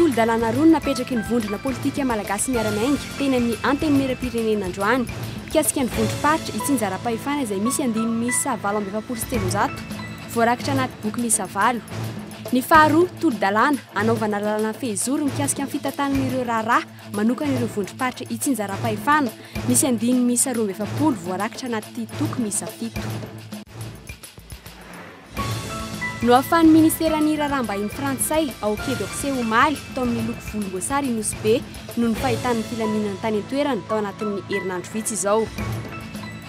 Tolo-dalàna roa no napetraky ny vondrona politika malagasy miara-miainga teny amin'ny Antenimierampirenena androany. Mikasika ny vondrom-paritra, itsinjaram-pahefana izay misy andininy miisa valo amby efapolo sy telonjato, voarakitra anaty boky miisa valo. Ny faharoa, tolo-dalàna anaovana lalàna fehizoro mikasika ny fitantanana ireo raharaha manokana ireo vondrom-paritra itsinjaram-pahefana, misy andininy miisa roa amby efapolo, voarakitra anaty boky miisa fito. Nohafan'ny Ministeran'ny Raharaham-bahiny Frantsay ao Quai d'Orsay omaly tao amin'ny loko volomboasary i Nosy Be noho ny fahitan'ny filaminana tany an-toerana tao anatin'ny herinandro vitsy izao.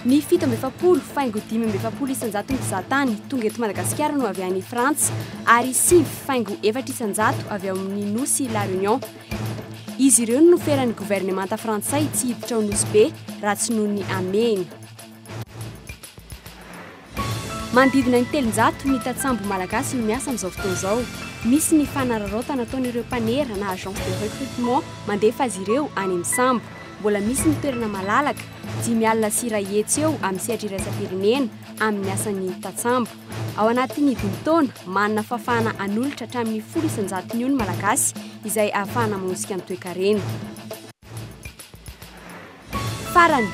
Ny fito amby efapolo faingo dimy amby efapolo isan-jaton'ny mpizahatany tonga eto Madagasikara no avy any Frantsa ary sivy faingo efatra isan-jato avy ao amin'ny nosy La Réunion. Izy ireo no noferan'ny governemanta frantsay tsy hiditra ao Nosy Be raha tsy noho ny hamehiny. Manodidina ny telonjato ny tantsambo malagasy no miasa amin'izao fotoana izao. Misy ny fanararaotana ataon'ireo mpanera na agence de recrutement mandefa azy ireo any amin'ny sambo. Mbola misy ny toerana malalaka, dimy alina sy iray hetsy eo amin'ny sehatra iraisam-pirenena, amin'ny asan'ny tantsambo. Ao anatin'ny dimy taona, manana fahafahana hanolotra hatramin'ny folo isan-jatony eo ny Malagasy izay ahafahana manosika ny toekarena. Farany,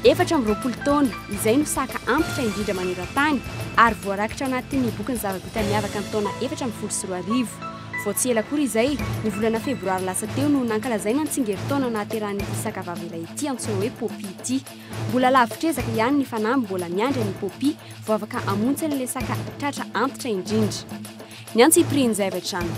efatra amby roapolo taona, izay no saka antitra indrindra maneran-tany ary voarakitra anatin'ny bokin'ny zava-bita miavaka ny taona efatra ambin'ny folo sy roa arivo. Vao tsy ela akory izay, ny volana febroary lasa teo no nankalazaina ny tsingerin-taona nahaterahan'ity saka vavelahy ity antsoina hoe Poppy ity. Mbola lavitr'ezaka ihany ny fanamby mbola miandry an'i Poppy vao afaka hamontsy an'ilay saka tratra antitra indrindra. Ny antsipirian'ny zavatra any.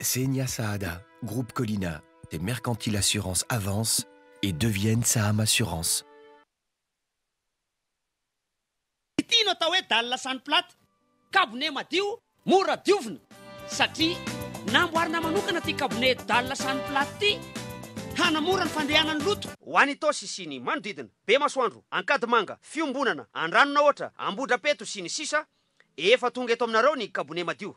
Xenia Saada, Groupe Colina de Mercantile Assurance avance et devienne Saham Assurance. Ity no atao hoe dalle sans plate, kabone madio, mora diovina. Satria namboarina manokana ity kabone dalle sans plate ity hanamora ny fandehanan'ny loto. Ho any Itaosy sy ny manodidina, Bemasoandro, Ankadimanga, Fiombonana, Andranonahoatra, Ambohidrapeto sy ny sisa Efa tonga eto aminareo ny kabone madio.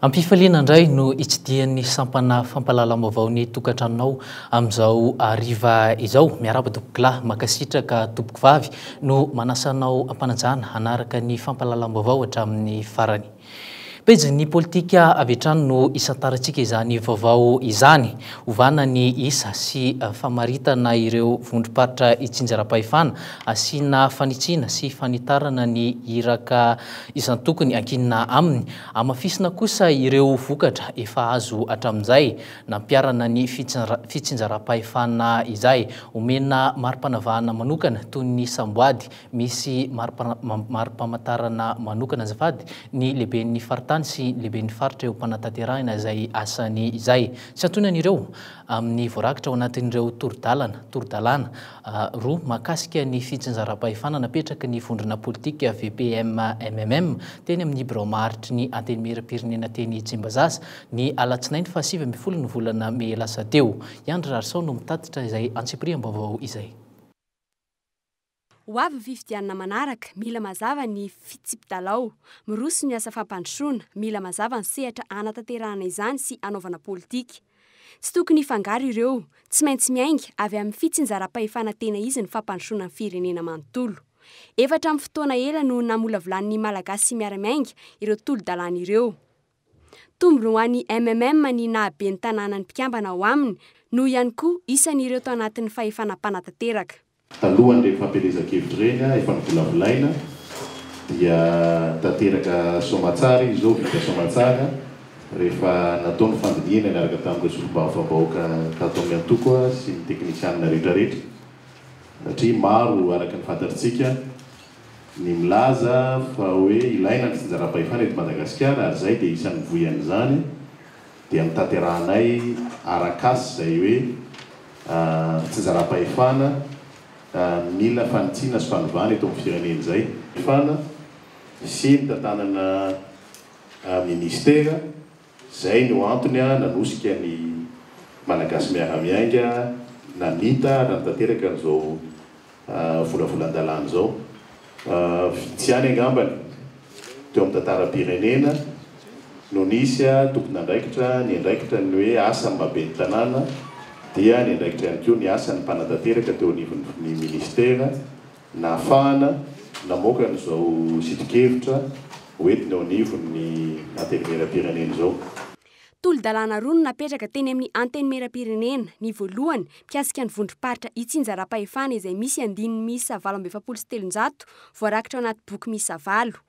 Ampifaliana indray no hitsidihan'ny sampana fampahalalam-baovao ny tokantranonao amin'izao hariva izao. Miarahaba tompoko lahy, mankasitraka tompoko vavy no manasanao am-panajana hanaraka ny fampahalalam-baovao hatramin'ny farany. Pejin'ny politika avy hatrany no isantarantsika izany vaovao izany. Ovana ny isa sy famaritana ireo vondrom-paritra itsinjaram-pahefana. Asiana fanitsiana sy fanitarana ny iraka isan-tokony ankinina aminy. Amafisina kosa ireo vokatra efa azo hatramin'izay nampiharana ny fitsinjaram-pahefana izay. Omena mari-panavahana manokana toy ny samboady Misy mari-pamantarana manokana azafady ny lehiben'ny faritany sy ny lehiben'ny faritra eo am-panatanterahina izay asany izay. Tsy antonany ireo amin'ny voarakitra ao anatin'ireo toro-dalana, toro-dalàna, roa mahakasika ny fitsinjaram-pahefana napetraky ny vondrona politika VPM-MMM teny amin'ny birao maharitry ny Antenimierampirenena teny Tsimbazaza ny alatsinainy fahasivy ambin'ny folon'ny volana mey lasa teo. I Andry Rarisao no mitatitra izay antsipiriam-baovao izay. Ho avy ny fifidianana manaraka, mila mazava ny fitsipi-dalao. Miroso ny asa fampandrosoana, mila mazava ny sehatra hanatanterahana izany sy hanaovana politika. Tsy tokony hifangaro ireo. Tsy maintsy miainga avy amin'ny fitsinjaram-pahefana tena izy ny fampandrosoana ny firenena manontolo. Efa hatramin'ny fotoana ela no namolavolan'ny Malagasy miara-miainga ireo tolo-dalàna ireo. Tombony ho an'ny MMM ny nahabe ny tanànan'ny mpikambana ao aminy, noho ihany koa isan'ireo tao anatin'ny fahefana mpanatanteraka. Talohan'ireny fampielezan-kevitra ireny efa novolavolaina dia tanteraka soamatsara izy izao, vita soamatsara rehefa natao ny fandinihana niaraka tamin'ireo solombavambahoaka tato amin'ny antoko sy ny teknisianina rehetrarehetra satria maro araka ny fantatritsika ny milaza fa hoe ilaina ny tsinjaram-pahefana eto Madagasikara ary izahay dia isan'ny mivoy an'izany dia ny tanterahanay arak'asa izay hoe fitsinjaram-pahefana mila fanitsiana sy fanovana eto amin'ny firenena izay. Fana sy ny tantanana minisitera. Izay no antony nanosika ny Malagasy miara-miainga namita ary nanatanteraka an'izao volavolan-dalàna izao. Vitsy ihany angambany teo amin'ny tantaram-pirenena no nisy tompon'andraikitra niandraikitra ny hoe asan'ny mahaben'ny tanàna dia niandraikitra ihany koa ny asan'ny mpanatanteraka teo anivon'ny minisitera, Nahafahana namoaka an'izao sitokevitra hoentiny eo anivon'ny Antenimierampirenena izao. Tolo-dalàna roa no napetraka teny amin'ny Antenimierampirenena. Ny voalohany, mikasika ny vondrom-paritra itsinjaram-pahefana izay misy andininy miisa valo amby efapolo sy telonjato voarakitra ao anaty boky miisa valo.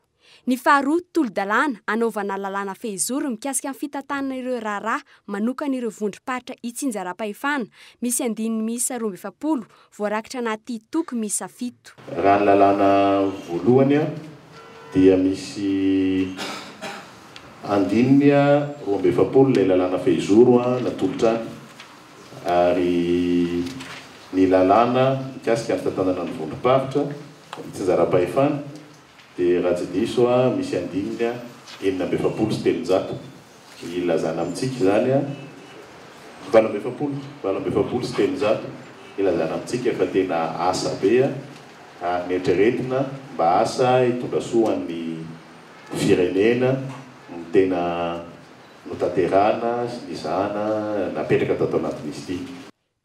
Ny faharoa, tolo-dalàna anaovana lalàna fehizoro mikasika ny fitantanana ireo raharaha manokan'ireo vondrom-paritra itsinjaram-pahefana misy andininy miisa roa amby efapolo voarakitra anaty toko miisa fito. Raha ny lalàna voalohany dia misy andininy roa amby efapolo ilay lalàna fehizoro natolotra ary ny lalàna mikasika ny fitantanana ny vondrom-paritra itsinjaram-pahefana, Dia raha tsy diso aho misy andininy enina amby efapolo sy telonjato ilazana amintsika izany an! valo amby efapolo, valo amby efapolo sy telonjato ilazana amintsika fa tena asa be an! ary ny eritreretina mba asa hitondra soa ho an'ny firenena no tena notanterahina sy nizahana napetraka tato anatin'izy ity.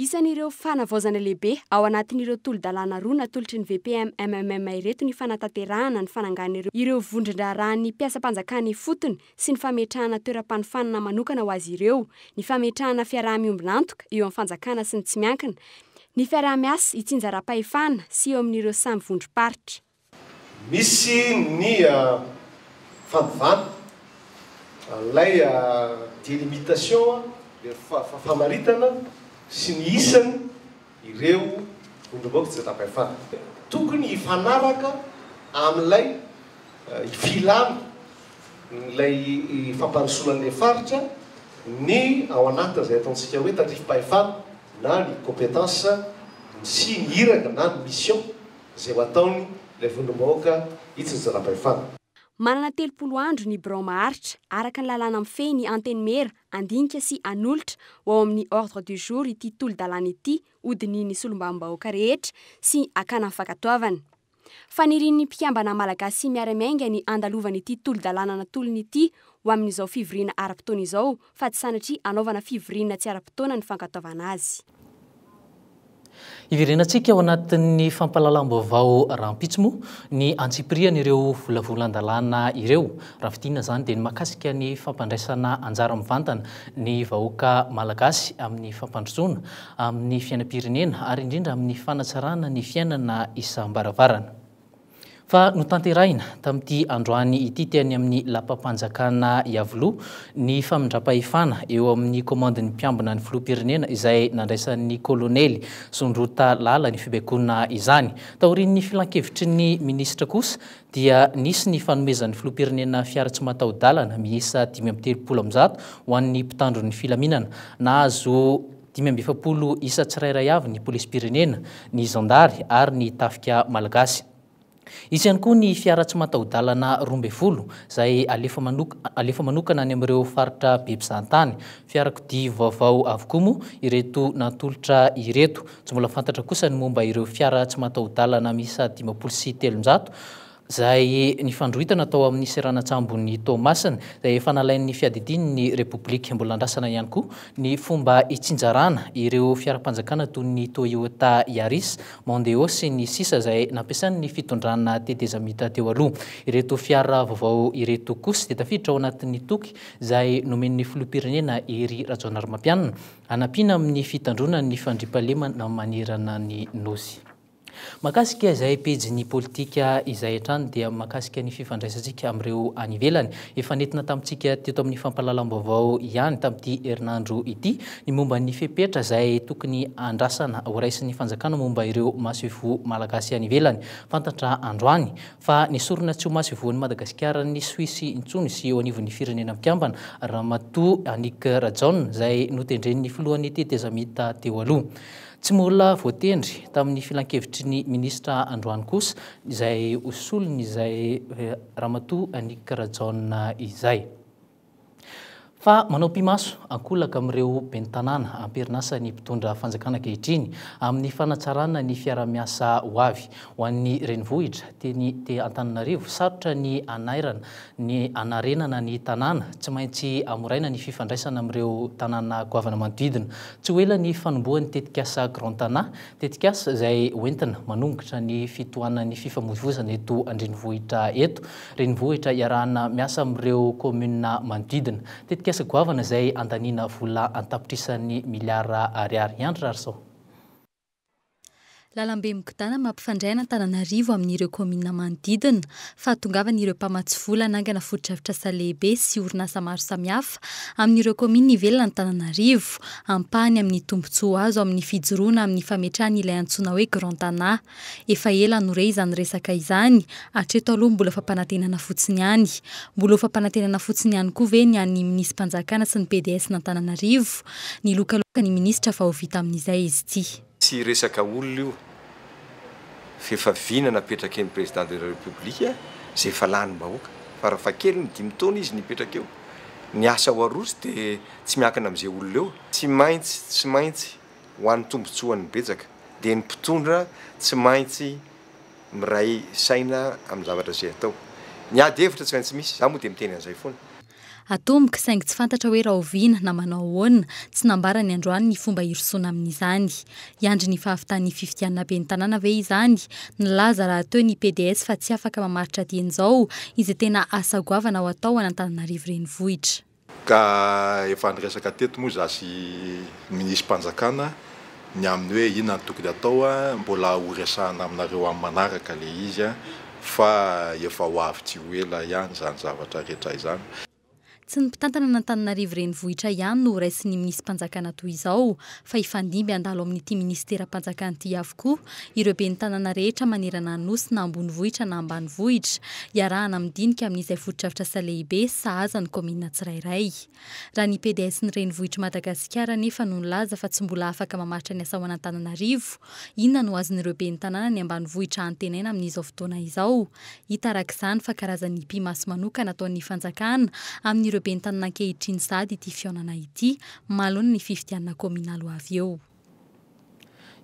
Isan'ireo fanavaozana lehibe ao anatin'ireo tolo-dalàna roa natolotry ny VPM-MMM ireto ny fanatanterahana ny fananganana ireo vondron-draharahan'ny mpiasam-panjakana ifotony sy ny fametrahana toeram-panofanana manokana ho azy ireo, ny fametrahana fiaraha-miombon'antoka eo amin'ny fanjakana sy ny tsy miankina, ny fiaraha-miasa itsinjaram-pahefana sy eo amin'ireo samy vondrom-paritra. Misy ny fanovana an'ilay delimitation, ilay famaritana sy ny isan' ireo vondrombaoka tsy an-tapahefana. Tokony hifanaraka amin'ilay filan' ilay fampandrosoana an'ilay faritra ny ao anatin'izay ataontsika hoe tandrifim-pahefana na ny compétence sy ny iraka na ny mission. izay ho ataony ilay vondrom-bahoaka hitsiny zana-pahefana. Manana telopolo andro ny birao maharitra, araka ny lalàna mifehy ny Antenimiera, Andinika sy Hanolotra ho ao amin'ny Ordre du jour ity tolo-dalàna ity hodinihin'ny Solombavambahoaka rehetra sy hakana ny fankatoavany. Fanirian'ny mpikambana Malagasy miara-miainga ny handalovan'ity tolo-dalàna natolony ity ho amin'izao fivoriana ara-potoana izao fa tsy sanatria anaovana fivoriana tsy ara-potoana ny fankatoavana azy. Hiverenantsika ao anatin'ny fampahalalam-baovao rahampitso moa ny antsipirihan'ireo volavolan-dalàna ireo. Raha fidinina izany dia ny mahakasika ny fampandraisana anjara mivantana ny vahoaka malagasy amin'ny fampandrosoana, amin'ny fiainam-pirenena ary indrindra amin'ny fanatsarana ny fiainana isam-baravarana. Fa notanterahina tamin'ity androany ity teny amin'ny lapam-panjakana Iavoloha ny famindram-pahefana eo amin'ny kaomandin'ny mpiambina ny filoham-pirenena izay nandraisan'ny kolonely Sondrota Lala ny fibaikoana izany. Taorian'ny filankevitry ny minisitra kosa dia nisy ny fanomezan'ny filoham-pirenena fiara tsy mataho-dalana miisa dimy amby telopolo amin'ny zato ho an'ny mpitandro ny filaminana nahazo Dimy amby efapolo isa tsirairay avy ny polisim-pirenena, ny zandary ary ny tafika malagasy. Hisy ihany koa ny fiara tsy mataho-dalana roa ambin'ny folo izay alefa manokana any amin'ireo faritra be mpizahantany. Fiarakodia vaovao avokoa moa ireto natolotra ireto. Tsy mbola fantatra kosa ny momba ireo fiara tsy mataho-dalana miisa dimampolo sy telonjato. izay nifandrohitana tao amin'ny seranan-tsambon'i Toamasina, izay efa nalain'ny fiadidiany ny Repoblika. Mbola andrasana ihany koa ny fomba hitsinjarana ireo fiaram-panjakana toy ny Toyota Yaris, Mondeo sy ny sisa izay nampiasain'ny fitondrana tetezamita teo aloha. Ireto fiara vaovao ireto kosa dia tafiditra ao anatin'ny toky izay nomen'ny Filoham-pirenena Hery Rajaonarimampianina hanampiana amin'ny fitandroana ny fandriampahalemana manerana ny Nosy. Mahakasika izay pejin'ny politika izay hatrany dia mahakasika ny fifandraisantsika amin'ireo any ivelany. Efa nentina tamintsika teto amin'ny fampahalalam-baovao ihany tamin'ity herinandro ity ny momba ny fepetra izay tokony handrasana horaisin'ny fanjakana momba ireo masoivoho malagasy any ivelany. Fantatra androany fa nesorina tsy ho masoivohon'i Madagasikara ny Suisse intsony sy eo anivon'ny firenena mpikambana Ramatoa Annick Rajaona izay notendren'ny filohan'ny tetezamita teo aloha. Tsy mbola voatendry tamin'ny filankevitry ny minisitra androany kosa izay ho solon'izay Ramatoa Annick Rajaona izay. Fa manao pimaso ankolaka amin'ireo ben'ny tanàna am-perin'asan'ny mpitondra fanjakana ankehitriny amin'ny fanatsarana ny fiaraha-miasa ho avy. Ho an'ny renivohitra, teny Antananarivo, sarotra ny hanairana ny hanarenana ny tanàna, tsy maintsy hamoraina ny fifandraisana amin'ireo tanàna goavana manodidina. Tsy ho ela ny fanombohan'ny tetikasa Grand Tana, tetikasa izay hoentina manongotra ny fitohanan'ny fifamoivozana eto an-drenivohitra eto, renivohitra iarahana miasa amin'ireo kaominina manodidina. Tetikasa goavana izay handaniana vola an-tapitrisany miliara ariary. Andry Rarison. Lalambe migodàna mampifandray an'Antananarivo amin'ireo kaominina manodidina. Fahatongavany ireo mpamatsy vola hanangana fotodrafitrasa lehibe sy orinasa maro samihafa amin'ireo kaominina ivelan'Antananarivo. Ampahany amin'ny tombontsoa azo amin'ny fijoroana amin'ny fametrahany ilay antsoina hoe Grand Tana. Efa ela no re izany resaka izany, hatreto aloha mbola fampanantenana fotsiny ihany. Mbola ho fampanantenana fotsiny ihany koa ve ny an'ny minisi-panjakana sy ny PDS-n'Antananarivo? Nilokaloka ny ministra fa ho vita amin'izay izy ity. Tsy resaka olona io fa efa vina napetrake ny président de la république zay efa lany bahoaka farafakely ny dimy taona izy nipetraka eo ny asa ao aroso de tsy miankina amze olona eo. Tsy maintsy tsy maintsy ho any tombotsoan'ny betsaka de ny mpitondra tsy maintsy miray saina amin'ny zavatra zay atao. Ny ady hevitra tsy maintsy misy za moa de miteny an'izay foana. Atomboka, saingy tsy fantatra hoe rahoviana na manao ahoana, tsy nambara ny androany ny fomba hirosoana amin'izany. Hiandry ny fahavitan'ny fifidianana ben'ny tanàna ve izany? Nilaza rahateo ny PDS fa tsy afaka mamaritra dieny-zao izay tena asa goavana ho atao an'Antananarivo Renivohitra. Ka efa niresaka teto moa izaho sy ny minisitrim-panjakana. ny amin'ny hoe inona no tokony atao mbola ho resahana aminareo amin'ny manaraka ilay izy fa efa ho avy tsy ho ela ihany izany zavatra rehetra izany. Tsy ny mpitantana an'Antananarivo renivohitra ihany no ho raisin'ny minisi-panjakana toy izao fa hifandimby handalo amin'ity minisiteram-panjakana ity avokoa ireo ben'ny tanàna rehetra manerana ny Nosy na ambonivohitra na ambanivohitra iarahana amin'ny dinika amin'izay fotodrafitrasa lehibe sahaza ny kaominina tsirairay. Raha ny PDS ny renivohitr'i Madagasikara anefa no nilaza fa tsy mbola afaka mamaritra ny asa ao an'Antananarivo, inona no azon'ireo ben'ny tanàna ny ambanivohitra antenaina amin'izao fotoana izao? Hita araka izany fa karazan'ny hipi-maso manokana ataon'ny fanjakana amin'ireo ben'ny tanàna ankehitriny sahady ity fihaonana ity manoloana ny fifidianana kaominaly ho avy eo.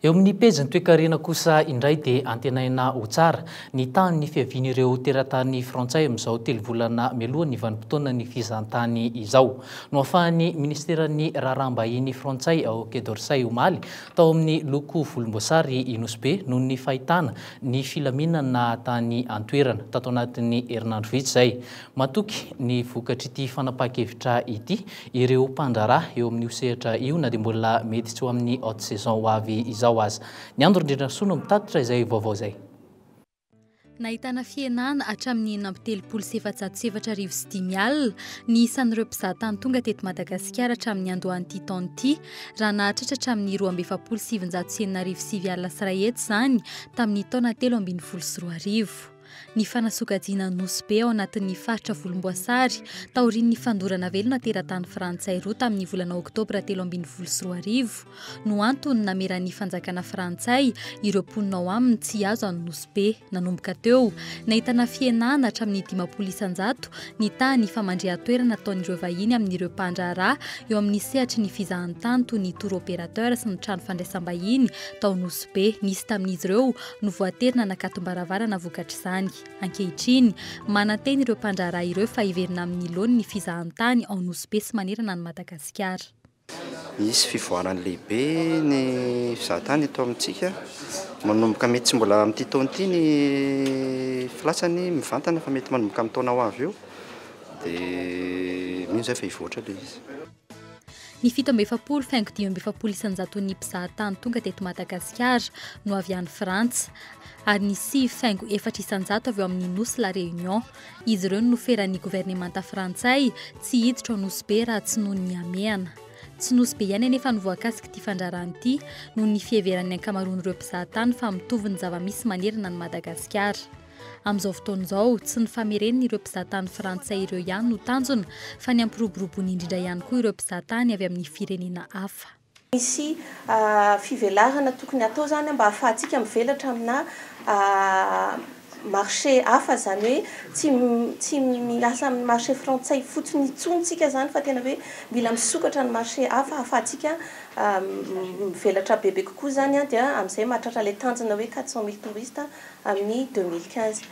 Eo amin'ny pejin'ny toekarena kosa indray dia antenaina ho tsara ny tahan'ny fiavian'ireo teratany frantsay amin'izao telo volana mialohan'ny vanim-potoanan'ny fizahantany izao. Nohafahan'ny minisiteran'ny raharaham-bahiny frantsay ao Quai d'Orsay omaly tao amin'ny loko volomboasary i Nosy Be noho ny fahitana ny filaminana tany an-toerana tato anatin'ny herinandro vitsy izay. Matoky ny vokatr'ity fanapahan-kevitra ity ireo mpandraharaha eo amin'io sehatra io na dia mbola mety tsy ho amin'ny haute saison ho avy izao aza. Ny Andry Rindrindrasoa no mitatitra izay vaovao izay. Nahitana fihenana hatramin'ny enina amby telopolo sy efajato sy efatra arivo sy dimy alina ny isan'ireo mpizahatany tonga teto Madagasikara hatramin'ny niandohan'ity taona ity, raha nahatratra hatramin'ny roa amby efapolo sy sivinjato sy enina arivo sy sivy alina sy iray hetsy izany tamin'ny taona telo ambin'ny folo sy roa arivo. ny fanasokajiana ny Nosy Be ao anatin'ny faritra volomboasary taorian'ny fandorana velona teratany frantsay roa tamin'ny volana oktobra telo ambin'ny folo sy roa arivo no antony nameran'ny fanjakana frantsay ireo mponina ao aminy tsy azo an'ny Nosy Be nanomboka teo nahitana fihenana hatramin'ny dimampolo isanjato ny tany famandrihan-toerana ataon'ireo vahiny amin'ireo mpandraharaha eo amin'ny sehatry ny fizahantany toy ny tour opérateur sy ny trano fandraisam-bahiny tao Nosy Be nisy tamin'izy ireo no voatery nanakatom-baravarana vokatr'izany. Ankehitriny, manantena ireo mpandraharaha ireo fa hiverina amin'ny laoniny ny fizahantany ao Nosy Be sy manerana an'i Madagasikara. Hisy fivoarany lehibe ny fizahantany eto amintsika. Manomboka mety tsy mbola amin'ity taona ity ny filatsany mivantana fa mety manomboka amin'ny taona ho avy eo dia mino izay fa hivoatra ilay izy. Ny fito amby efapolo faingo dimy amby efapolo isan-jaton'ny mpizahatany tonga teto Madagasikara no avy any Frantsa, ary ny sivy faingo efatra isan-jato avy ao amin'ny nosy La Réunion. Izy ireo no noferan'ny governemanta frantsay tsy hiditra ao Nosy Be raha tsy noho ny hamehana. Tsy Nosy Be ihany anefa no voakasik'ity fandrarana ity, noho ny fiheveran'ny ankamaroan'ireo mpizahatany fa mitovy ny zava-misy manerana an'i Madagasikara. Amin'izao fotoana izao, tsy ny fameren'ireo mpizahatany frantsay ireo ihany no tanjona, fa ny hampiroboroboana indrindra ihany koa ireo mpizahatany avy amin'ny firenena hafa. Misy fivelarana tokony hatao izany mba hahafahantsika mivelatra aminà marché hafa, izany hoe tsy tsy miasa amin'ny marché frantsay fotsiny intsony isika izany fa tena hoe mila misokatra ny marché hafa hahafahantsika mivelatra bebe kokoa izany dia amin'izay mahatratra ilay tanjona hoe quatre cent mille touristes amin'ny deux mille quinze.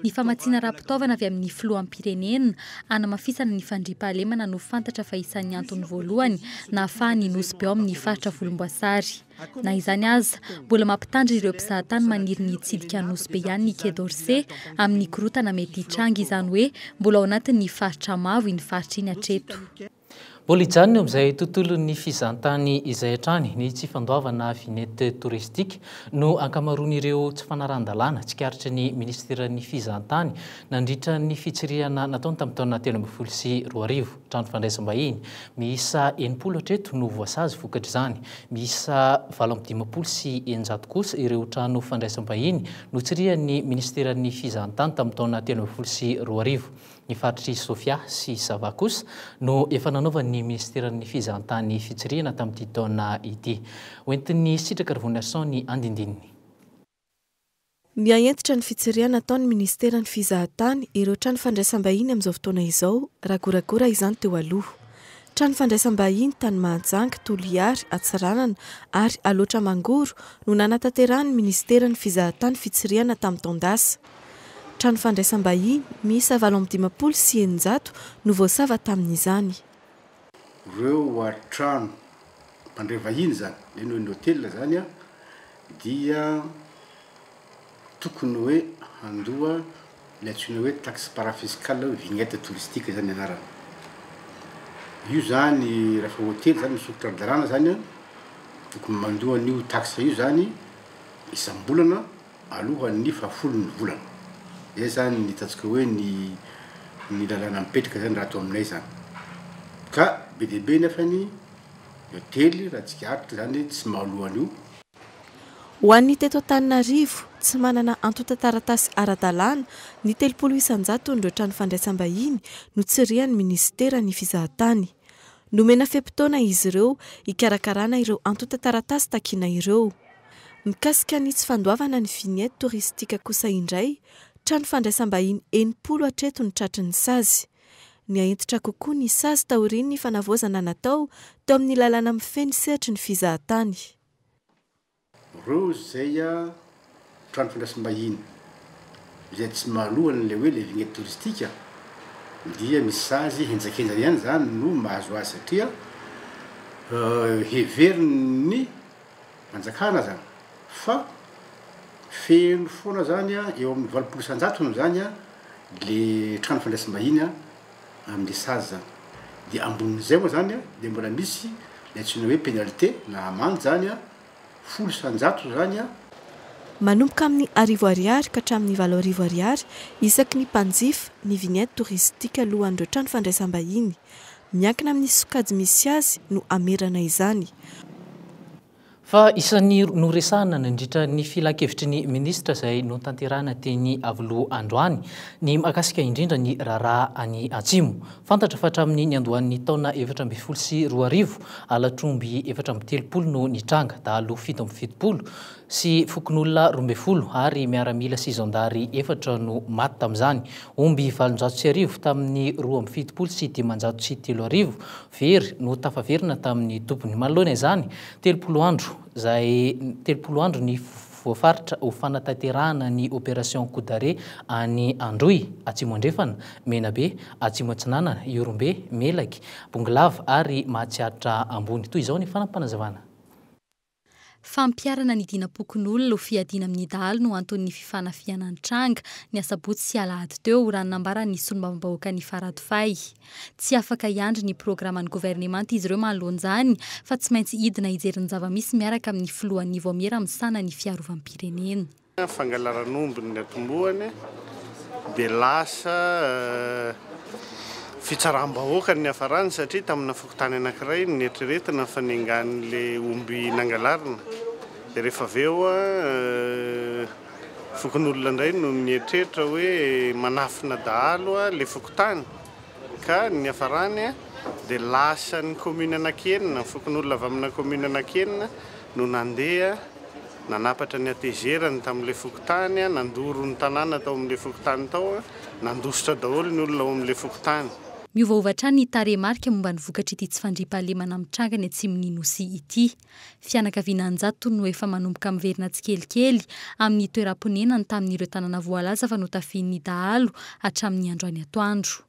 Ny famatsiana ara-pitaovana avy amin'ny filoham-pirenena hanamafisana ny fandriampahalemana no fantatra fa isan'ny antony voalohany nahafahan'ny Nosy be ao amin'ny faritra Volomboasary. Na izany aza, mbola mampitandrina ireo mpizahatany maniry ny hitsidika an'i Nosy be ihany ny Quai d'Orsay amin'ny korontana mety hitranga, izany hoe mbola ao anatin'ny faritra mavo iny faritra iny hatreto. Mbola hijanona eo amin'izay tontolon'ny fizahantany izay hatrany ny tsy fandoavana vignette touristique no ankamaroan'ireo tsy fanarahan-dalàna tsikaritry ny minisiteran'ny fizahantany nandritra ny fitsirihana nataony tamin'ny taona telo ambin'ny folo sy roa arivo. Trano fandraisam-bahiny miisa enimpolo hatreto no voasazy vokatr'izany. Miisa valo amby dimampolo sy eninjato kosa ireo trano fandraisam-bahiny notsirihan'ny minisiteran'ny fizahantany tamin'ny taona telo ambin'ny folo sy roa arivo. Ny faritr'i Sofia sy Sava kosa no efa nanaovan'ny minisiteran'ny Fizahantany fitsirihana tamin'ity taona ity. Hoentin'i Sitraka Rivoniason ny andindininy. Miha-hentitra ny fitsirihana ataon'ny minisiteran'ny Fizahantany ireo trano fandraisam-bahiny amin'izao fotoana izao, raha goragora izany teo aloha. Trano fandraisam-bahiny tany Mahajanga, Toliary, Antsiranana ary Alaotra Mangoro no nanatanterahany minisiteran'ny Fizahantany fitsirihana tamin'ny taon-dasa. Trano fandraisam-bahiny miisa valo amby dimampolo sy eninjato no voasava tamin'izany. Ireo trano mpandray vahiny izany, eny hoe ny hotely izany, dia tokony hoe handoa ilay antsoina hoe taxe parafiscale na hoe vignette touristique izany ny anarany. Io izany rehefa hotely izany misokitra ny lalàna izany an, tokony mandoa an'io taxe io izany isam-bolana alohan'ny fahafolon'ny volana. Izay izany ny ataontsika hoe ny ny lalàna mipetraka izany raha ato aminay izany. Ka be dia be nefa ny hotely raha tsikaritra izany tsy mahaloa an'io. Ho an'ny teto Antananarivo, tsy manana antontan-taratasy ara-dalàna ny telopolo isan-jaton'ireo trano fandraisam-bahiny notsirihan'ny minisitera ny fizahantany. Nomena fe-potoana izy ireo hikarakarana ireo antontan-taratasy takiana ireo. Mikasika ny tsy fandoavana ny vignette touristique kosa indray, trano fandraisam-bahiny enimpolo hatreto ny tratry ny sazy. Nihahentitra kokoa ny sazy taorian'ny fanavaozana natao teo amin'ny lalàna mifehy ny sehatry ny fizahatany. Ireo izay trano fandraisam-bahiny izay tsy mahaloa an'ilay hoe ilay vignette touristique dia ny sazy henjakenjana ihany izany no mahazo azy satria heverin'ny Fanjakana zany fa feno foana zany a eo amin'ny valopolo isan-jatony zany a le trano fandraisam-bahiny a amle sazy zany de ambonin'izay moa zany a de mbola misy le antsoina hoe pénalité na amande zany a folo isan-jato zany a. Manomboka amin'ny arivo ariary ka hatramin'ny valo arivo ariary isaky ny mpanjifa ny vignette touristique alohan'ireo trano fandraisam-bahiny. Miankina amin'ny sokajy misy azy no hamerana izany. Fa isan'ny noresahana nandritra ny Filankevitry ny Minisitra izay notanterahina teny Iavoloha androany ny mahakasika indrindra ny raharaha any Atsimo. Fantatra fa hatramin'ny niandohan'ny taona efatra ambin'ny folo sy roa arivo, halatr'omby efatra amby telopolo no nitranga, dahalo fito amby fitopolo, sy fokonolona roa ambin'ny folo ary miaramila sy zandary efatra no maty tamin'izany. Omby valonjato sy arivo tamin'ny roa amby fitopolo sy dimanjato sy telo arivo very no tafaverina tamin'ny tompony. Manoloana izany, telopolo andro izay telopolo andro ny voafaritra ho fanatanterahana ny Opération Coup d'arrêt any Androy, Atsimo Andrefana, Menabe, Atsimo Atsinanana, Ihorombe, Melaky, Bongolava ary Mahatsiatra Ambony. Toy izao ny fanapanazavana. Fampiharana ny dinam-pokonolona ho fiadiana amin'ny dahalo no anton'ny fifanafihana nitranga, ny asabotsy sy alahady teo, raha ny nambaran'ny solombavambahoakan'i Faradofay. Tsy afaka hiandry ny programan'ny governemanta izy ireo manoloan'izany, fa tsy maintsy hidina hijery ny zava-misy miaraka amin'ny filohan'ny Vaomiera misahana ny fiarovam-pirenena. Fangalaran'omby ny atombohany dia lasa fitsaram-bahoaka ny niafarany satria tamina fokontany anankiray no neritreretina fa nengan'ilay omby nangalarina dia rehefa avy eo fokonolona indray no nieritreritra hoe manafina dahalo ilay fokontany. ka ny niafarany dia lasan'ny kaominina Anankienina, ny fokonolona avy amina kaominina Anankienina no nandeha nanapatra ny hatezerany tamin'ilay fokontany, nandoro ny tanàna tao amin'ilay fokontany tao, nandositra daholo ny olona ao amin'ilay fokontany. Miovaova hatrany ny tarehimarika momba ny vokatr'ity tsy fandriampahalemana mitranga any atsimon'ny Nosy ity. Fianakaviana an-jatony no efa manomboka miverina tsikelikely amin'ny toeram-ponenany tamin'ireo tanàna voalaza fa notafihin'ny dahalo hatramin'ny androany atoandro.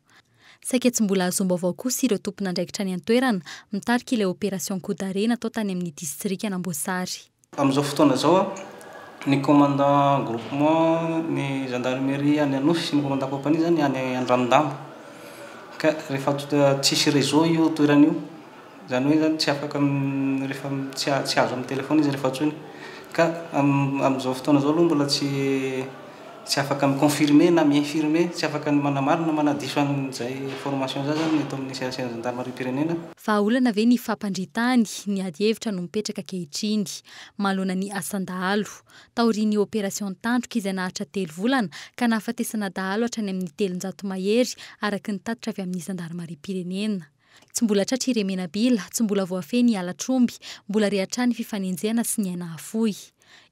Saika tsy mbola azoam-baovao kosa ireo tompon'andraikitra any an-toerana mitarika ilay opération coup d'arrêt natao tany amin'ny distrikan'Amboasary. Amin'izao fotoana izao, ny commandant groupement ny gendarmerie any Anosy sy ny commandant compagnie izany any Andranodahy ka rehefa tsisy réseau io toerana io, Izany hoe izany tsy afaka rehefa tsy azo amin'ny telefaona izy rehefa antsoina. Ka amin'izao fotoana izao aloha mbola tsy tsy afaka mi-confirmer na mi-infirmer, tsy afaka ny manamarina na manadiso an'izay information izay izany ny eto amin'ny CACN'ny zandarimariam-pirenena. Vahaolana ve ny fampandrian-tany? Ny adihevitra no mipetraka ankehitriny, manoloana ny asan-dahalo. Taorian'ny opération tandroka izay naharitra telo volana ka nahafatesana dahalo hatrany amin'ny telonjato mahery, araka ny tatitra avy amin'ny zandarimariam-pirenena. Tsy mbola tratra i Remenabila, tsy mbola voafehy ny halatr'omby, mbola re hatrany fifanenjehana sy ny aina afoy.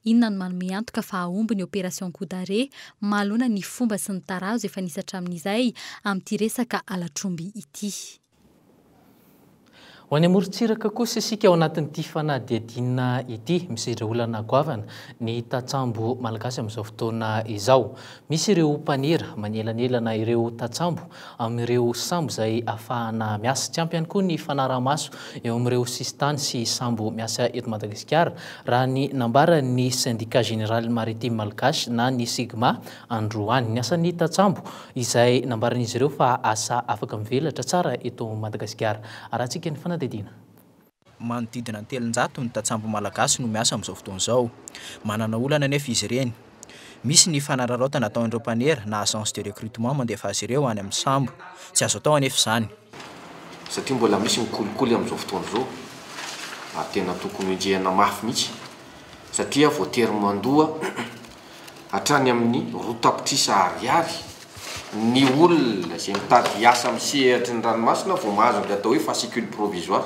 Inona no manome antoka fa hahomby ny Opération Coup d'arrêt, mahalona ny fomba sy ny tarazo efa nisy hatramin'izay amin'ity resaka halatr'omby ity. Ho any amorontsiraka kosa isika ao anatin'ity fanadihadiana ity. Misedra olana goavana ny tantsambo malagasy amin'izao fotoana izao. Misy ireo mpanera manelanelana ireo tantsambo amin'ireo sambo izay afahana miasa. Tsy ampy ihany koa ny fanarahamaso eo amin'ireo sisintany sy sambo miasa eto Madagasikara, raha ny nambaran'ny Syndicat Général Maritime Malgache na ny Sigma androany. Ny asan'ny tantsambo izay nambaran'izy ireo fa asa afaka mivelatra tsara eto Madagasikara. Arahantsika ny fanadihadiana. Manodidina ny telonjato ny tantsambo malagasy no miasa amin'izao fotoana izao. Manana olana anefa izy ireny. Misy ny fanararaotana ataon'ireo mpanera na agence de recrutement mandefa azy ireo any amin'ny sambo. Tsy azo atao anefa izany. Satria mbola misy ny kolikoly amin'izao fotoana izao ary tena tokony ho enjehina mafy mihitsy satria voatery mandoa hatrany amin'ny roa tapitrisa ariary ny olona izay mitady hiasa amin'ny sehatry ny ranomasina vao mahazo ny atao hoe fascicule provisoire.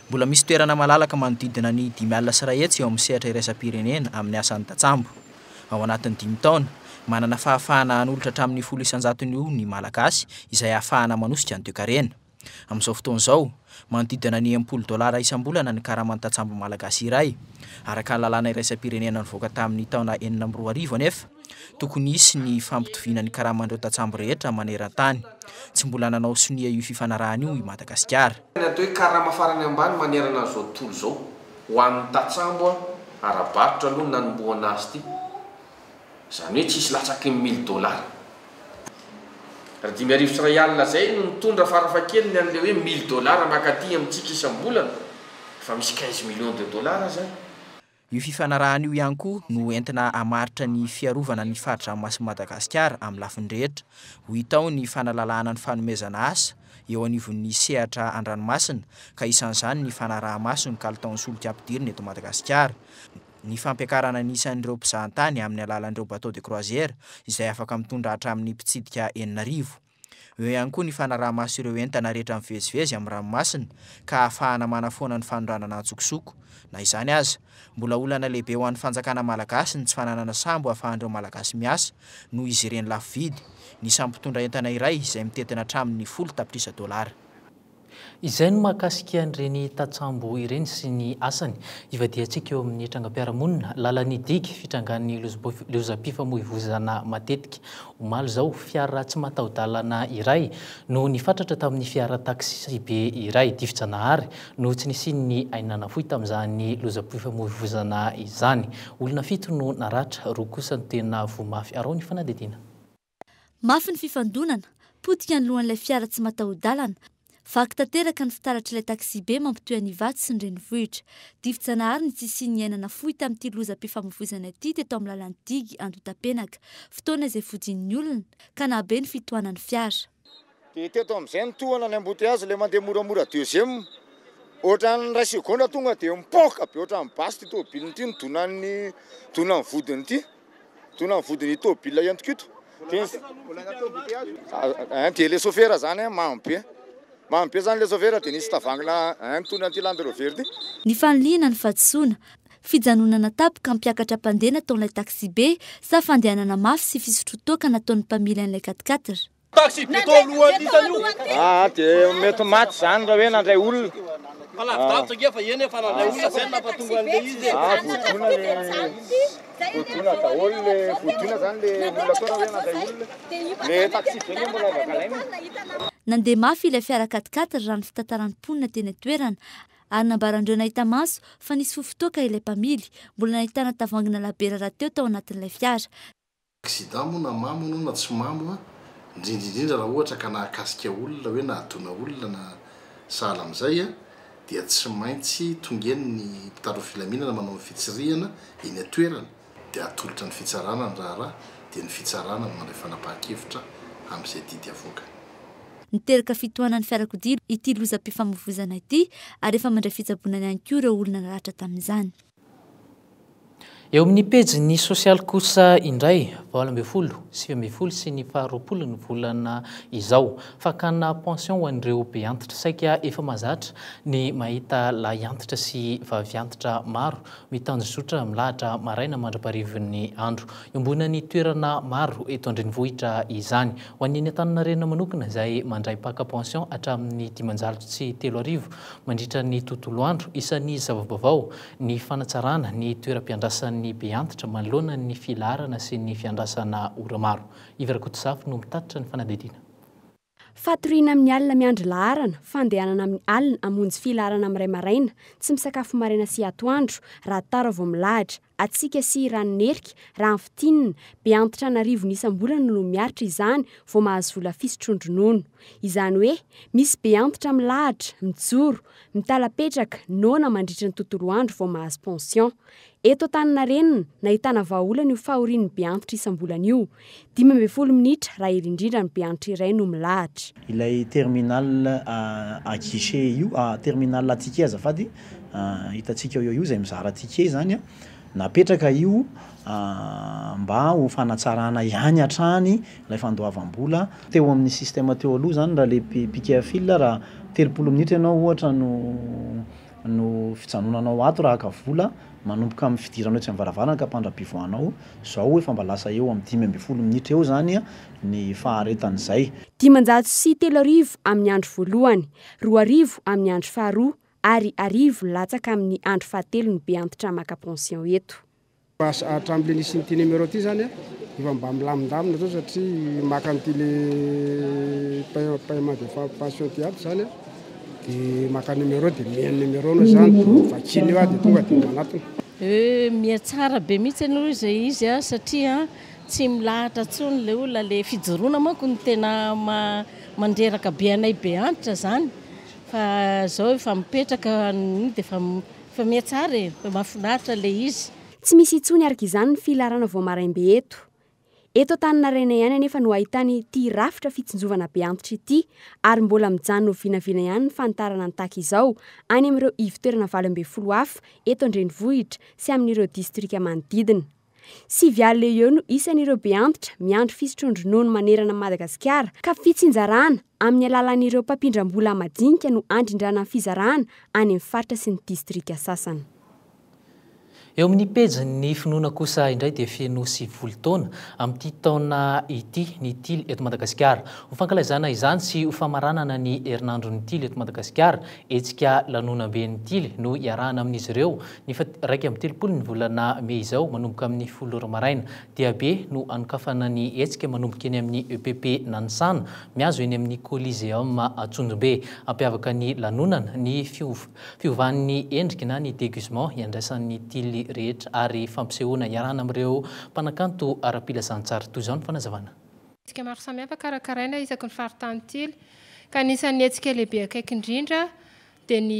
Mbola misy toerana malalaka manodidina ny dimy alina sy iray hetsy eo amin'ny sehatra iraisam-pirenena amin'ny asan'ny tantsambo. Ao anatin'ny dimy taona, manana fahafahana hanolotra hatramin'ny folo isan-jatony io ny Malagasy izay ahafahana manosika ny toekarena. Amin'izao fotoana izao, manodidina ny enimpolo dolara isam-bolana ny karaman'ny tantsambo malagasy iray. Araka ny lalàna iraisam-pirenena nivoaka tamin'ny taona enina amby roa arivo anefa, tokony hisy ny fampitoviana ny karaman'ireo tantsambo rehetra maneran-tany. Tsy mbola nanao sonia io fifanarahana io i Madagasikara. Ny atao hoe karama farany ambany manerana an'izao tontolo izao, ho an'ny tantsambo ara-barotra aloha nanombohana azy ity. Izany hoe tsy hisy latsaky ny mille dollars. Raha dimy arivo sy iray alina izay no mitondra farafahakeliny an'ilay hoe mille dollars mankaty amintsika isam-bolana, efa misy quinze millions de dollars izany. Io fifanarahana io ihany koa no entina hamaritra ny fiarovana ny fari-dranomasin'i Madagasikara amin'ny lafiny rehetra. Ho hita ao ny fanalalahana ny fanomezana asa eo anivon'ny sehatra an-dranomasina, ka isan'izany ny fanaraha-maso ny kalitaon'ny solika ampidirina eto Madagasikara. ny fampiakarana ny isan'ireo mpizahantany amin'ny alalan'ireo bateau de croisière izay afaka mitondra hatramin'ny mpitsidika enina arivo. Eo ihany koa ny fanaraha-maso ireo entana rehetra mivezivezy amin'ny ranomasina ka ahafahana manafoana ny fanondranana an-tsokosoko. Na izany aza, mbola olana lehibe ho an'ny fanjakana malagasy ny tsy fananana sambo ahafahan'ireo Malagasy miasa noho izy ireny lafo vidy ny sambom-pitondra entana iray izay mitentina hatramin'ny folo tapitrisa dolara. Izay no mahakasika an'ireny tantsambo ireny sy ny asany ivadihantsika eo amin'ny trangam-piarahamonina, lalan'ny digy, fitrangan'ny lozam-pifamoivoizana matetika. Omaly izao, fiara tsy mataho-dalana iray no nifatratra tamin'ny fiara taksibe iray. Difijanahary no tsy nisian'ny aina nafoy tamin'izany lozam-pifamoivoizana izany. Olona fito no naratra, roa kosa no tena voa mafy. Arao ny fanadihadiana. Mafy ny fifandonana, potika ny lohan'ilay fiara tsy mataho-dalana. Vaky tanteraka ny fitaratr'ilay taksibe mampitohy an'i Ivato sy ny renivohitra. Dibo-janahary ny tsy hisian'ny aina nafoy tamin'ity lozam-pifamoivoizana ity teto amin'ny lalan'i Digue Andohatapenaka, fotoana izay fodian'ny olona, ka nahabe ny fitohanan'ny fiara. Dia teto amin'izay ny tohana ny embouteillage ilay mandeha moramora deuxième ohatran'ny iray segondra tonga dia mipoaka be ohatran'ny basy ity tomobilina ity ny donan'ny donan'ny vodiny ity donan'ny vodiny tomobilina entiko ito dia dia le sofera zany mamy be mamy be zany le sofera dia nisy tavangina nitondra an'ity Land Rover ity Ny fanilihana ny fahadisoana, fijanonana tapoka hampiakatra mpandeha nataon'ilay taxi-be sa fandehanana mafy sy fisotroan-toaka nataon'ny mpamily an'ilay quat-quatre? Taxi be tao alohan hitany io. Aa de mety maty zany ra hoe nandray olona. Fa lavidavitra nge fa eny e fa nandray olona zay no napatonga anle izy e. Aa voadona le voadona daholo le voadona zany le olona tao ra hoe nandray olona. Le taxi be nge mbola afaka alaina. Nandeha mafy ilay fiara quat-quatre raha ny fitantaran'ny mponina teny an-toerana ary nambaran'ireo nahita maso fa nisy fofon-toaka ilay mpamily. Mbola nahitana tavoahangy nalabe rahateo tao anatin'ilay fiara. Accident moa na mamo anao na tsy mamo a, indrindra indrindra raha ohatra ka nahakasika olona hoe nahadona olona na sahala amin'izay a, dia tsy maintsy tonga eny ny mpitandro filaminana manao ny fitsirihana eny an-toerana dia atolotra ny fitsarana ny raharaha dia ny fitsarana no mandray fanapahan-kevitra amin'izay didy avoakany. Niteraka fitohanan'ny fiarakodia ity lozam-pifamoivoizana ity ary efa mandray fitsaboana ihany koa ireo olona naratra tamin'izany. Eo amin'ny pejin'ny sosialy kosa indray, valo ambin'ny folo, sivy ambin'ny folo sy ny faharoapolo ny volana izao. Fakana pension ho an'ireo be antitra. Saika efa mahazatra ny mahita lahy antitra sy vavy antitra maro mitandrozotra milahatra maraina mandra-parivin'ny andro. Iombonan'ny toerana maro eto an-drenivohitra izany. Ho an'ny eny Antaninarenina manokana izay mandray mpaka pension hatramin'ny dimanjato sy telo arivo Mandritra ny tontolo andro, isan'ny zava-baovao ny fanatsarana ny toeram-piandrasan'ny Beantitra manoloana ny filaharana sy ny fiandrasana ora maro. Yves Rakotozafy no mitatitra ny fanadihadiana. Fatoriana amin'ny alina miandry laharana, fandehanana amin'ny alina hamonjy filaharana amin'ny iray maraina, tsy misakafo maraina sy atoandro, raha tara vao milahatra, hatsiaka sy ranon'erika, raha ny fintinina, be antitra an'arivony isam-bolana no miaritra izany vao mahazo vola fisotroan-dronono. Izany hoe, misy be antitra milahatra, mijoro, mitalapetraka, noana mandritry ny tontolo andro vao mahazo pension. Eto Antaninarenina, nahitana vahaolana io fahorian'ny be antitra isam-bolana io. Dimy ambin'ny folo minitra, raha hery indrindra ny mpianatra iray no milahatra. Ilay terminal à guichet io, terminal à ticket azafady, hitantsika eo io izay mizara ticket izany, napetraka io mba ho fanatsarana ihany hatrany ilay fandoavam-bola. Teo amin'ny système teo aloha izany, raha ilay piquet à fil, raha telopolo minitra ianao ohatra no no fijanonanao ato raha haka vola, manomboka amin'ny fidiranao etsy amin'ny varavarana ka hampandrapivoahanao, izao efa mba lasa eo amin'ny dimy ambin'ny folo minitra eo izany ny faharetan'izay. Dimanjato sy telo arivo amin'ny andro voalohany, roa arivo amin'ny andro faharoa ary arivo latsaka amin'ny andro fahatelo ny be antitra maka pension eto. Lasa hatramin'ilay nisy an'ity numéro ity izany an, efa mba milamindamina izao satria maka an'ity ilay paiement de pension ity aby izany an, dia maka numéro dia miha ny numéro-nao izany, dia vakiany eo an, dia tonga dia manatona. Euh, miha tsara be mihitsy aloha izay izy an, satria an tsy milahatra intsony ilay olona, ilay fijoroana manko no tena mandreraka be anay be antitra izany, fa izao efa mipetraka, dia efa. Fa miha tsara e! Fa mahafinaritra ilay izy. Tsy misy intsony araka izany ny filarana vao maraimbe eto. Eto Antaninarenina ihany anefa no ahitana ity rafitra fitsinjovana be antitra ity ary mbola mijanona ho vinavina ihany ny fanitarana ny taky izao any amin'ireo ivo-toerana valo ambin'ny folo hafa eto an-drenivohitra sy amin'ireo distrika manodidina. Sivy alina eo eo no isan'ireo be antitra miandry fisotroan-dronono manerana an'i Madagasikara ka fitsinjarana amin'ny alalan'ireo mpampindram-bola madinika no handrindrana ny fizarana any amin'ny faritra sy ny distrika sasany. Eo amin'ny pejin'ny finoana kosa indray dia feno sivifolo taona amin'ity taona ity ny tily eto Madagasikara. Ho fankalaizana izany sy ho famaranana ny herinandron'ny tily eto Madagasikara Hetsika lanonam-be ny tily no iarahana amin'izy ireo ny faha iraika amby telopolo ny volana mey izao manomboka amin'ny folo ora maraina. Diabe no anokafana ny hetsika manomboka eny amin'ny EPP Nanisana mihazo eny amin'ny Coliseum Antsonjombe. Hampiavaka ny lanonana ny fiovan'ny endriky na ny degusement iandraisan'ny tily rehetra ary fampisehoana iarahana amin'ireo mpanakanto ara-pilazantsara. Toy izao ny fanazavana. Hetsika maro samihafa karakaraina isaky ny faritany tily ka anisan'ny hetsika lehibe akaiky indrindra dia ny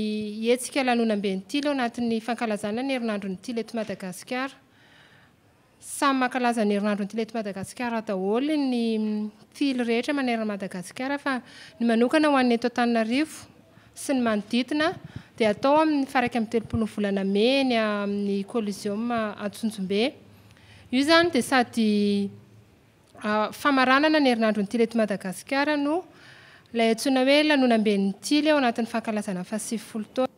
hetsika lanonambe ny tily ao anatin'ny fankalazana ny herinandron'ny tily eto Madagasikara. Samy mankalaza ny herinandron'ny tily eto Madagasikara daholo ny tily rehetra manerana an'i Madagasikara fa ny manokana ho an'ny eto Antananarivo sy ny manodidina dia atao amin'ny faha iraika amby telopolo ny volana mey eny amin'ny Coliseum Antsonjombe. Io izany dia sady Famaranana ny herinandron'ny Tily eto Madagasikara no ilay antsoina hoe lanonamben'ny Tily ao anatin'ny fankalazana ny fahasivifolo taona.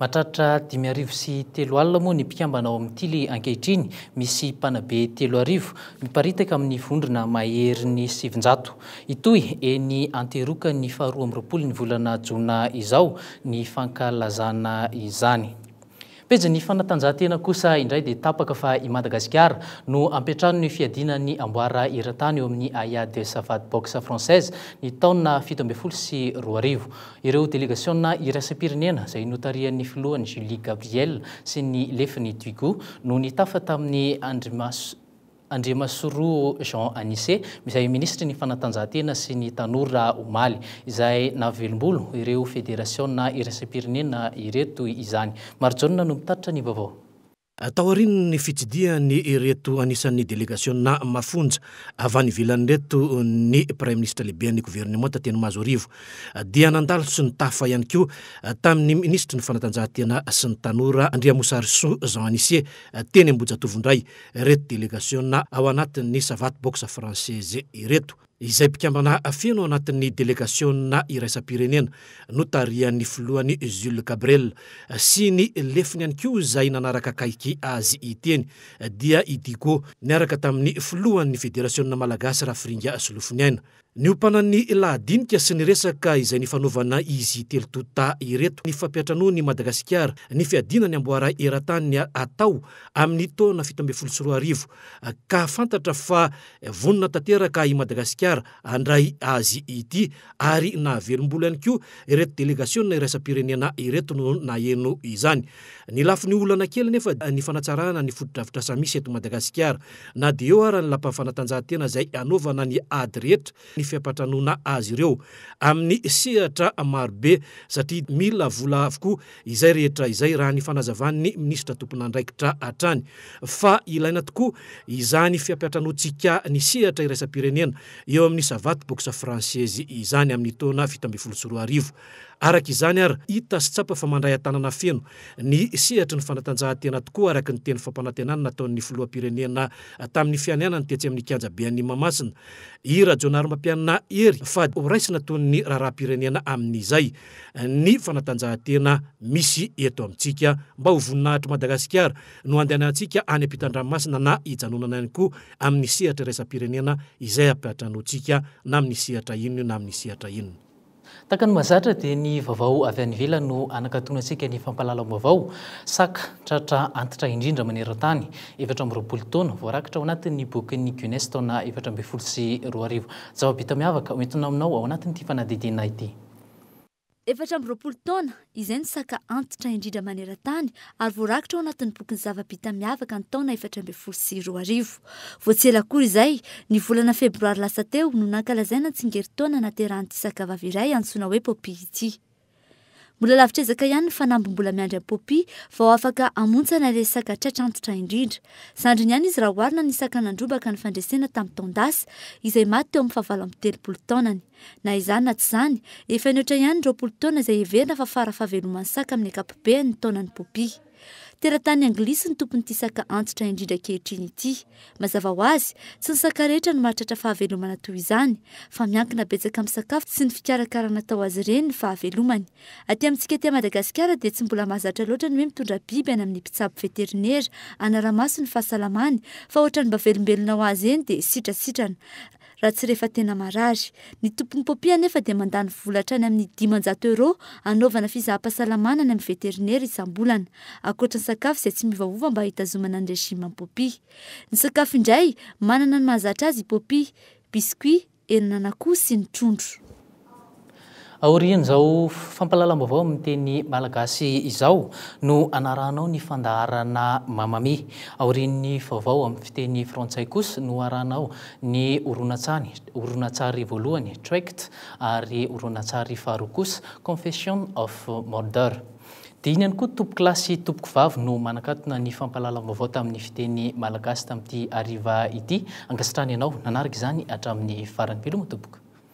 Mahatratra dimy arivo sy telo alina moa ny mpikambana ao amin'ny Tily ankehitriny, misy mpanabe telo arivo, miparitaka amin'ny vondrona maherin'ny sivinjato. Hitohy eny Anteroka ny faharoa amby roapolo ny volana jona izao ny fankalazana izany. Pejin'ny fanatanjahantena kosa indray dia tapaka fa i Madagasikara no ampiantrano ny fiadiana ny amboara eran-tany eo amin'ny Aya de Savate Boxe Française ny taona fito ambin'ny folo sy roa arivo. Ireo delegasiona iraisam-pirenena izay notarihan'ny filohany Julie Gabriel sy ny lefiny Duigu no nitafa tamin'ny andrimaso Andriamasoroo Jean Anise, izay minisitry ny Fanatanjahantena sy ny Tanora omaly, izay nahavelombolo ireo federasiona iraisam-pirenena ireto izany. Marijaona no mitatitra ny vaovao. Taorian'ny fitsidihany ireto anisan'ny delegasiona mafonja avy any ivelany ireto ny Praiminisitra Lehiben'ny Governemanta teny Mahazoarivo dia nandalo sy nitafa ihany koa tamin'ny minisitry ny Fanatanjahantena sy ny Tanora Andriamosarisoa Jean Anise teny Ambohijatovo indray ireto delegasiona ao anatin'ny Savate Box Française ireto, izay mpikambana feno ao anatin'ny delegasiona iraisam-pirenena notarihan'ny filohany Jules Gabriel sy ny lefiny ihany koa izay nanaraka akaiky azy iteny dia i Digo niaraka tamin'ny filohan'ny Federasiona Malagasy Rafiringa Solofoniaina Niompanan'ny lahadinika sy ny resaka izay nifanaovana izy telo tonta ireto ny fampiantranoan'i Madagasikara ny fiadiana ny amboara eran-tany hatao amin'ny taona fito ambin'ny folo sy roa arivo ka fantatra fa vonona tanteraka i Madagasikara handray azy ity ary nahavelom-bolo ihany koa ireto delegasiona iraisam-pirenena ireto no naheno izany. Ny lafiny olana kely anefa dia ny fanatsarana ny fotodrafitrasa misy eto Madagasikara. Na dia eo ara ny lapan'ny fanatanjahantena izay hanaovana ny ady rehetra ny fiampantranoana azy ireo amin'ny sehatra marobe satria mila vola avokoa izay rehetra izay raha ny fanazavan'ny minisitra tomponandraikitra hatrany fa ilaina tokoa izany fiampiantranoantsika ny sehatra iraisam-pirenena eo amin'ny Savaty Boxe Française izany amin'ny taona fito ambin'ny folo sy roa arivo. Araka izany ary, hita sy tsapa fa mandray an-tanana feno ny sehatry ny fanatanjahantena tokoa araka ny teny fampanantenana nataon'ny filoham-pirenena tamin'ny fianianany tetsy amin'ny kianjabe any Mahamasina i Rajaonarimampianina Hery fa horaisina toy ny raharaham-pirenena amin'izay ny fanatanjahantena misy eto amintsika mba ho voninahitr'i Madagasikara no andehanantsika any am-pitan-dranomasina na hijanonana ihany koa amin'ny sehatra iraisam-pirenena izay ampiantranointsika na amin'ny sehatra inona na amin'ny sehatra inona. Tahaka ny mahazatra dia ny vavao avy any ivelany no anakatona antsika ny fampahalalam-baovao, saka, tratra antitra indrindra maneran-tany, efatra amby roapolo taona, voarakitra ao anatin'ny bokin'ny Guinness taona efatra ambin'ny folo sy roa arivo. Zava-bita miavaka ho entina aminao ao anatin'ity fanadihadiana ity. Efatra amby roapolo taona, izay no saka antitra indrindra maneran-tany ary voarakitra ao anatin'ny bokin'ny zava-bita miavaka ny taona efatra ambin'ny folo sy roa arivo. Vao tsy ela akory izay, ny volana febroary lasa teo no nankalazaina ny tsingerintaona nahaterahan'ity sakavavy iray antsoina hoe Poppy ity. Mbola lavitr'ezaka ihany ny fanamby mbola miandry an'i Poppy vao afaka hamontsana ilay saka tratra antitra indrindra. Zandriny ihany izy raha oharina ny saka nandrobaka ny fandresena tamin'ny taon-dasa, izay maty teo amin'ny fahavalo amby telopolo taonany. Na izany na tsy izany, efa nihoatra ihany ny roapolo taona izay heverina fa fara fahaveloman'ny saka amin'ny ankapobeny ny taonan'ny popia. Teratany anglisy ny tompon'ity saka antitra indrindra ankehitriny ity. Mazava ho azy, tsy ny saka rehetra no mahatratra fahavelomana toy izany, fa miankina betsaka amin'ny sakafo sy ny fikarakarana atao azy ireny ny fahavelomany. Aty amintsika aty Madagasikara dia tsy mbola mahazatra loatra ny hoe mitondra biby any amin'ny mpitsabo veterinera hanara-maso ny fahasalamany, fa ohatrany mba velombelona ho azy eny dia sitrasitrana. raha tsy rehefa tena marary. Ny tompon'ny popia anefa dia mandany vola hatrany amin'ny dimanjato euros hanaovana fizaham-pahasalamana any amin'ny veterinera isam-bolana, ankoatra ny sakafo izay tsy miovaova mba hitazomana ny régime ny popia. Ny sakafo indray, manana ny mahazatra azy i popia, biscuits, henan'an'akoho sy ny trondro. Aorian'izao fampahalalam-baovao amin'ny teny malagasy izao no hanarahanao ny fandaharana Mamma Mia. Aorian'ny vaovao amin'ny fiteny frantsay kosa no harahanao ny horonantsary, horonantsary voalohany, Trekt, ary horonantsary faharoa kosa, Confession of Murder. Dia iny ihany koa tompoko lahy sy tompoko vavy no manakatona ny fampahalalam-baovao tamin'ny fiteny malagasy tamin'ity hariva ity. Ankasitrahana ianao nanaraka izany hatramin'ny farany. Veloma tompoko.